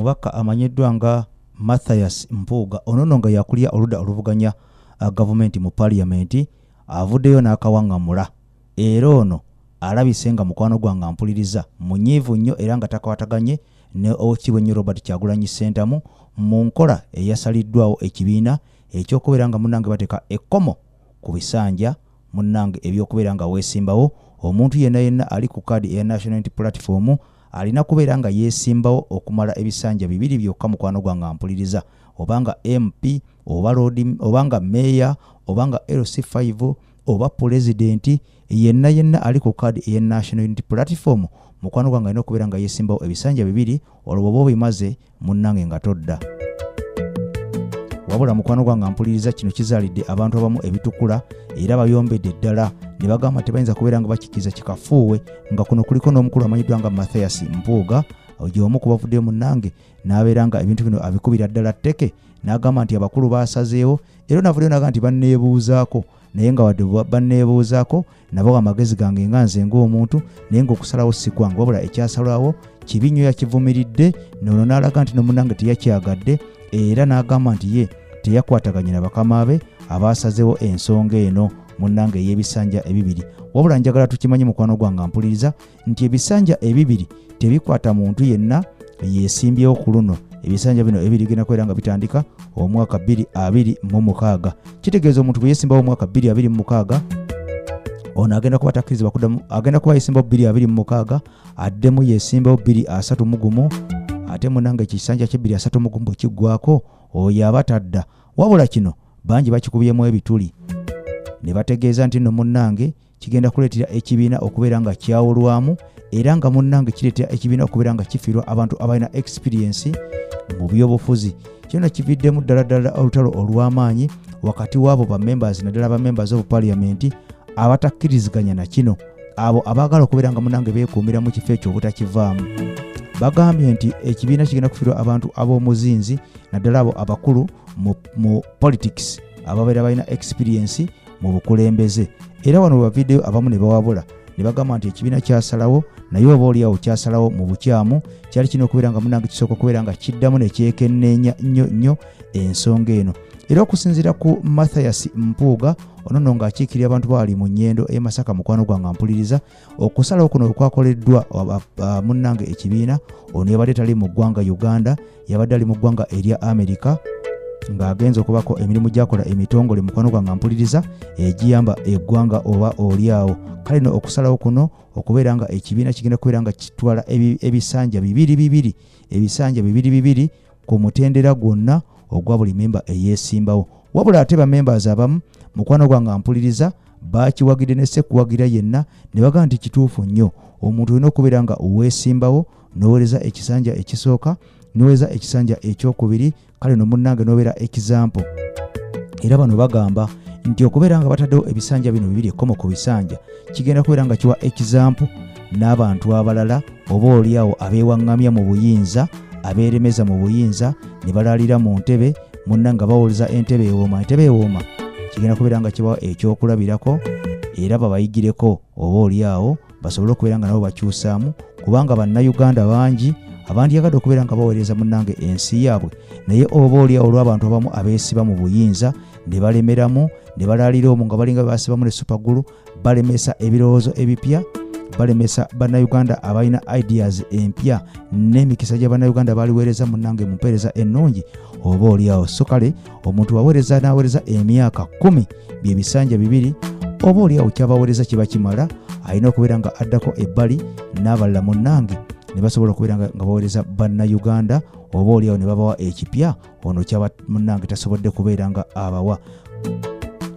omubaka amanyiddwa nga mathias mpuuga onono nga yakulira oludda oluvuganya uh, gavumenti mu paliyamenti avuddeyo n'akawaŋŋamula era ono alabise nga mukwano gwange ampuliriza munyiivu nnyo era nga takwataganye ne owekiibwa ennyo robert kyagulanyi sentamu mu nkola eyasaliddwawo ekibiina ekyokubeera nga munange bateeka ekkomo ku bisanja Munnange eby'okubeera nga weesimbawo, omuntu yenna yenna ali ku kaadi eya National Unity Platform alina kubeera nga yeesimbawo okumala ebisanja bibiri byokka mukwano gwange ampuliriza, oba nga MP, oba Loodi, oba nga Meeya, oba nga LC5, oba Pulezidenti, yenna yenna ali ku kaadi eya National Unity Platform mukwano gwange alina okubeera nga yeesimbawo ebisanja bibiri olwo bw'oba obimaze munnange nga todda wabula mukwano gwange mpuliriza kino kizaalidde abantu abamu ebitukula era bayombedde ddala ne bagamba tebayinza kubeera nga bakikkiriza kikafuuwe nga kuno kuliko n'omukulu amanyiddwa nga mathias mpuuga gyeomu ku bavudde munnange n'abeera nga ebintu bino abikubira ddala tteke n'agamba nti abakulu baasazeewo era navuddeyo naga nti banneebuuzaako naye nga wadde banneebuuzaako nabawa amagezi gange nga nze ng'omuntu naye ng'okusalawo si kwange wabula ekyasalwawo kibi nnyo yakivumiridde noono n'alaga nti nomunange teyakyagadde era n'agamba nti ye teyakwataganye na bakama be abaasazewo ensonga eno munnange ey'ebisanja ebibiri wabula njagala tukimanye mukwano gwange mpuliriza nti ebisanja ebibiri tebikwata muntu yenna yesimbyewo ku luno ebisanja bino ebirigenda kubeera nga bitandika omwaka 226 kitegeeza omuntu bwe yesimbawo omwaka 226 ono agenda kuba takkirizibwa kudamu agenda kuba yesimbawo 226 addemu yesimbawo 23 mugumu ate munanga ekisanja kye 23 mugumu bwe kiggwako oyo aba tadda wabula kino bangi bakikubyemu ebituli ne bategeeza nti nno munnange kigenda kuleetera ekibiina okubeera nga kyawulwamu era nga munnange kireetera ekibiina okubeera nga kifiirwa abantu abalina ekisipiriyensi mu byobufuzi kyona kividdemu ddala ddala olutalo olw'amaanyi wakati w'abo bamembers naddala bamembers of parliament abatakkiriziganya na kino abo abaagala okubeera nga munange beekuumira mu kifo ekyo obutakivaamu bagambye nti ekibiina kigenda kufirwa abantu ab'omuzinzi naddala abo abakulu mu politics ababeera balina experiensi mu bukulembeze era wano webavideyo abamu ne bawabula ne bagamba nti ekibiina kyasalawo naye oba oliawo kyasalawo mu bukyamu kyali kirina okubeera nga munange kisooka okubeera nga kiddamu nekyekenneenya nnyo nnyo ensonga eno era okusinziira ku mathias mpuuga onono ng'akiikirira abantu baali mu nyendo e masaka mukwano gwange ampuliriza okusalawo kuno wekwakoleddwa munnange ekibiina ono yabadde tali mu ggwanga uganda yabadde ali mu ggwanga erya amerika ng'agenza okubako emirimu gyakola emitongole mukwano gwange mpuliriza egiyamba eh, eggwanga oba olyawo kale no okusalawo kuno okubeera nga ekibiina kigenda kubeera nga kitwala ebisanja bibiri bibiri ebisanja bibiri bibiri ku mutendera gwonna ogwa buli memba eyeesimbawo wabula ate bamembers abamu mukwano gwange ampuliriza baakiwagidde ne sekuwagira yenna ne bagamba nti kituufu nnyo omuntu olina okubeera nga oweesimbawo noweereza ekisanja ekisooka noweereza ekisanja ekyokubiri kale no munnange nobeera ekizampo era bano bagamba nti okubeera nga bataddewo ebisanja bino bibiri ekkomo ku bisanja kigenda kubeera nga kiwa ekizampo n'abantu abalala oba olyawo abeewaŋŋamya mu buyinza abeeremeza mu buyinza ne balaalira mu ntebe munna nga bawuliza entebe ewooma entebe ewooma kigenda kubeera nga kibawa ekyokulabirako era babayigireko oba olyawo basobole okubeera nga nabo bakyusaamu kubanga bannayuganda bangi abandyagadde okubeera nga baweereza munnange ensi yaabwe naye oba olyawo olw'abantu abamu abeesiba mu buyinza ne balemeramu ne balaalira omu nga balinga basibamu ne supagulu balemesa ebirowoozo ebipya balemesa bannayuganda abalina ideas empya n'emikisa gya bannayuganda baliweereza munange mu mpeereza ennungi oba olyawo so kale omuntu waweereza n'aweereza emyaka kumi bye bisanja bibiri oba olyawo kyabaweereza kiba kimala alina okubeera nga addako ebbali n'abalala munange ne basobola okubeera nga baweereza bannayuganda oba olyawo ne babawa ekipya ono kyaba munange tasobodde kubeera nga abawa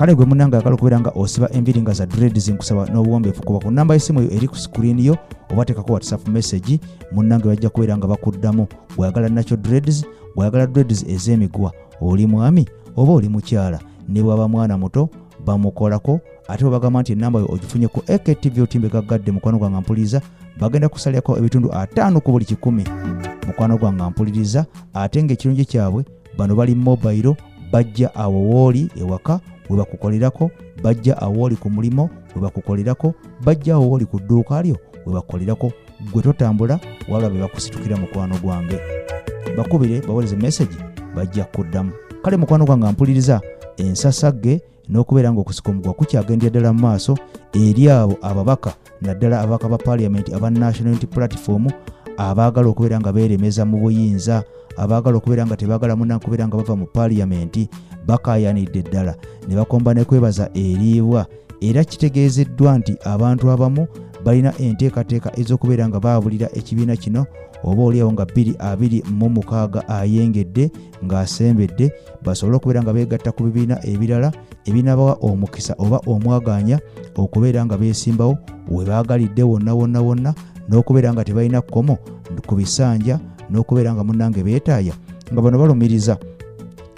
kale gwe munange agala okubeera nga osiba enviri nga za dreads nkusaba n'obuwombeefu kuba ku namba y'essimu eyo eri ku screen yo oba teekako whatsapp message munange bajja kubeera nga bakuddamu bweyagala nakyo dreads bweyagala dreads ez'emiguwa oli mwami oba oli mukyala ne bwaba mwana muto bamukolako ate bwebagamba nti enamba yo ogifunye ku aktv otimbe gaggadde mukwano gwanga mpuliriza bagenda kusalirako ebitundu ataano ku buli kikumi mukwano gwanga mpuliriza ate ngaekirungi kyabwe bano bali mobayiro bajja awo wooli ewaka webakukolerako bajja awo oli ku mulimu webakukolerako bajja awo oli ku dduuka lyo webakukolerako gwe totambula wabula be bakusitukira mukwano gwange bakubire bawereze mesagi bajja kuddamu kale mukwano gwange mpuliriza ensasagge n'okubeera ng'okusika omugwa kukyagendera ddala mu maaso eri abo ababaka naddala ababaka ba paaliyamenti aba national unity platform abaagala okubeera nga beeremeza mu buyinza abaagala okubeera nga tebaagala munange kubeera nga bava mu paaliyamenti bakaayanidde ddala ne bakomba ne kwebaza eriibwa era kitegeezeddwa nti abantu abamu balina enteekateeka ez'okubeera nga baabulira ekibiina kino oba oliawo nga 226 ayengedde ng'asembedde basobole okubeera nga beegatta ku bibiina ebirala ebinabawa omukisa oba omwagaanya okubeera nga beesimbawo we baagalidde wonna wonna wonna n'okubeera nga tebalina kkomo ku bisanja n'okubeera nga munnange beetaaya nga bano balumiriza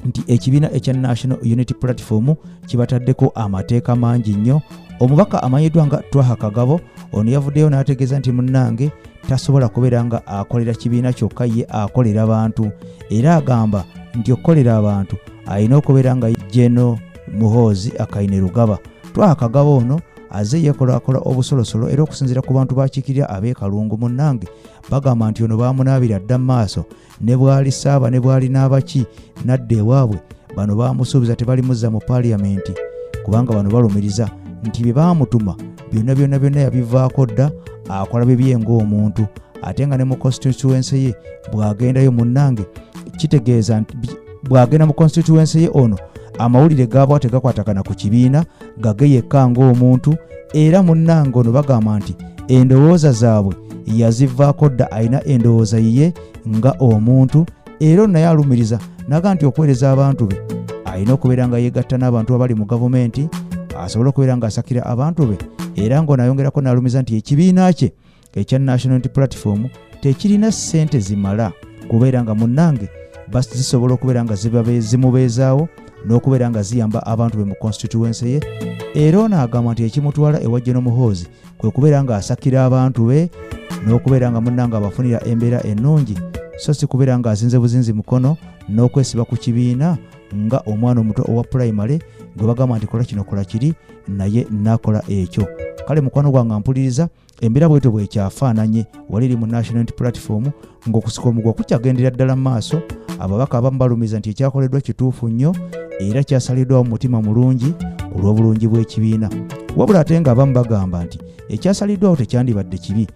nti ekibiina ekya national unity platform kibataddeko amateeka mangi nnyo omubaka amanyiddwa nga twaha kagabo ono yavuddeyo n'ategeeza nti munnange tasobola kubeera nga akolera kibiina kyokka ye akolera bantu era agamba nti okukolera abantu alina okubeera nga jeno muhoozi akaine lugaba twakagaba ono aze yekolakola obusolosolo era okusinzira ku bantu bakiikirira ab'ekalungu munnange bagamba nti ono baamunaabira dda mu maaso ne bwali saaba ne bwali n'abaki n'adda ewaabwe bano baamusuubiza tebalimuzza mu paaliyamenti kubanga bano balumiriza nti bye baamutuma byonna byonna byonna yabivaako dda akola bibye ng'omuntu ate nga ne mu constituense ye bw'agendayo munnange kitegeeza nti bw'agenda mu constituense ye ono amawulire gaabwa tegakwatagana ku kibiina gage yekka ng'omuntu era munnange ono bagamba nti endowooza zaabwe yazivaako dda alina endowooza yiye nga omuntu era ono naye alumiriza naga nti okuweereza abantu be alina okubeera nga yeegatta n'abantu abali mu gavumenti asobole okubeera ng'asakira abantu be era ng'ono ayongerako n'alumiza nti ekibiina kye ekya national unity platform tekirina ssente zimala kubeera nga munnange basi zisobola okubeera nga zimubeezaawo n'okubeera nga ziyamba abantu be mu constituense ye era ono agamba nti ekimutwala ewa geno muhoozi kwe kubeera ng'asakira abantu be n'okubeera nga munnange abafunira embeera ennungi so si kubeera ng'azinze buzinzi mukono n'okwesiba ku kibiina nga omwana omuto owa pulayimale gwe bagamba nti kola kino kola kiri naye nakola ekyo kale mukwano gwange mpuliriza embeera bwetyo bwekyafaananye wali eri mu national unity platform ng'okusika omugwa kukyagendera ddala mu maaso ababaka abamu balumiza nti ekyakoleddwa kituufu nnyo era kyasaliddwawo mu mutima mulungi ku lw'obulungi bw'ekibiina wabula ate ng'abamu bagamba nti ekyasaliddwawo tekyandibadde kibi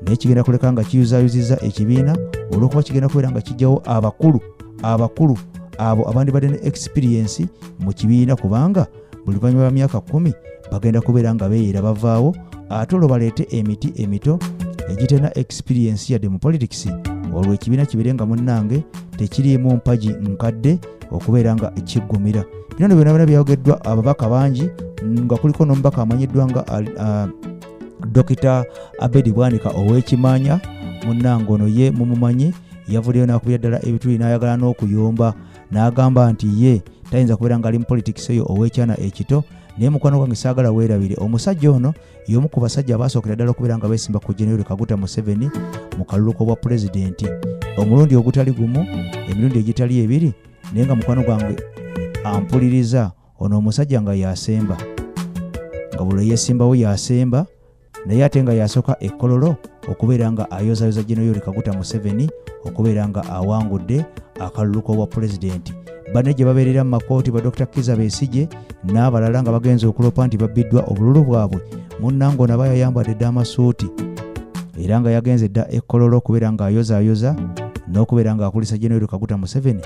naye kigenda kuleka nga kiyuzayuziza ekibiina olw'okuba kigenda kubeera nga kijjawo abakulu abakulu abo abandibadde ne ekisipiriyensi mu kibiina kubanga buli luvannyuma lwa myaka kkumi bagenda kubeera nga beeyera bavaawo ate olwo baleete emiti emito egitena experiensi yadde mu politics olwo ekibiina kibeere nga munnange tekiriimu mpagi nkadde okubeera nga kiggumira bino no byona byona byayogeddwa ababaka bangi nga kuliko n'omubaka amanyiddwa nga uh, dokita abedi bwanika ow'ekimanya munnange ono ye mumumanyi yavuddeyo n'akubira ddala ebituli n'ayagala n'okuyomba n'agamba nti ye tayinza kubeera ng'ali mu politics eyo ow'ekyana ekito naye mukwano gwange saagala weerabire omusajja ono y'omu ku basajja abaasookera ddala okubeera nga beesimba ku generali kaguta museveni mu kalulu k'obwa pulezidenti omulundi ogutali gumu emirundi egitali ebiri naye nga mukwano gwange ampuliriza ono omusajja nga yasemba nga buli yesimbawo yasemba naye ate nga yasoka ekololo okubeera nga ayozayoza jenoyori kaguta museveni okubeera nga awangudde akalulu k'obwa pulezidenti bane gye babeerera mu makooti ba dr kiza besije n'abalala nga bagenze okulopa nti babbiddwa obululu bwabwe munnange onaba yayambadde dda amasuuti era nga yagenze dda ekololo okubeera nga ayozayoza n'okubeera nga akulisa jenoyori kaguta museveni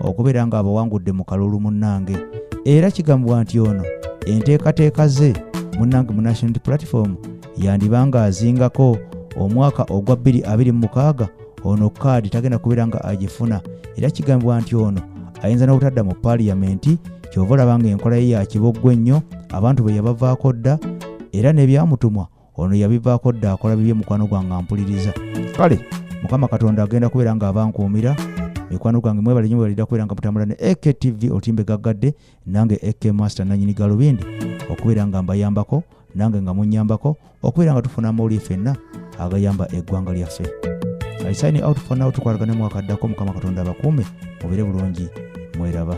okubeera nga abawangudde mu kalulu munnange era kigambibwa nti ono enteekateeka ze munnange mu national platform yandiba nga azingako omwaka ogwa 226 ono kaadi tagenda kubeera nga agifuna era kigambibwa nti ono ayinza n'obutadda mu paliyamenti kyova olaba nga enkola ye yakiboggwa ennyo abantu bwe yabavaako dda era nebyamutumwa ono yabivaako dda akola bibye mukwano gwange ampuliriza kale mukama katonda agenda kubeera nga abankuumira mikwano gwange mwebale nyo webalira kubeera nga mutambula ne aktv otimbe gaggadde nange ak master nanyini galubindi okubeera nga mbayambako nange nga munyambako okubeera nga tufuna amawulire fenna agayamba eggwanga lyaffe aisaini out fanawo tukwatagane mwaka addako mukama katonda abakuume mubire bulungi mweraba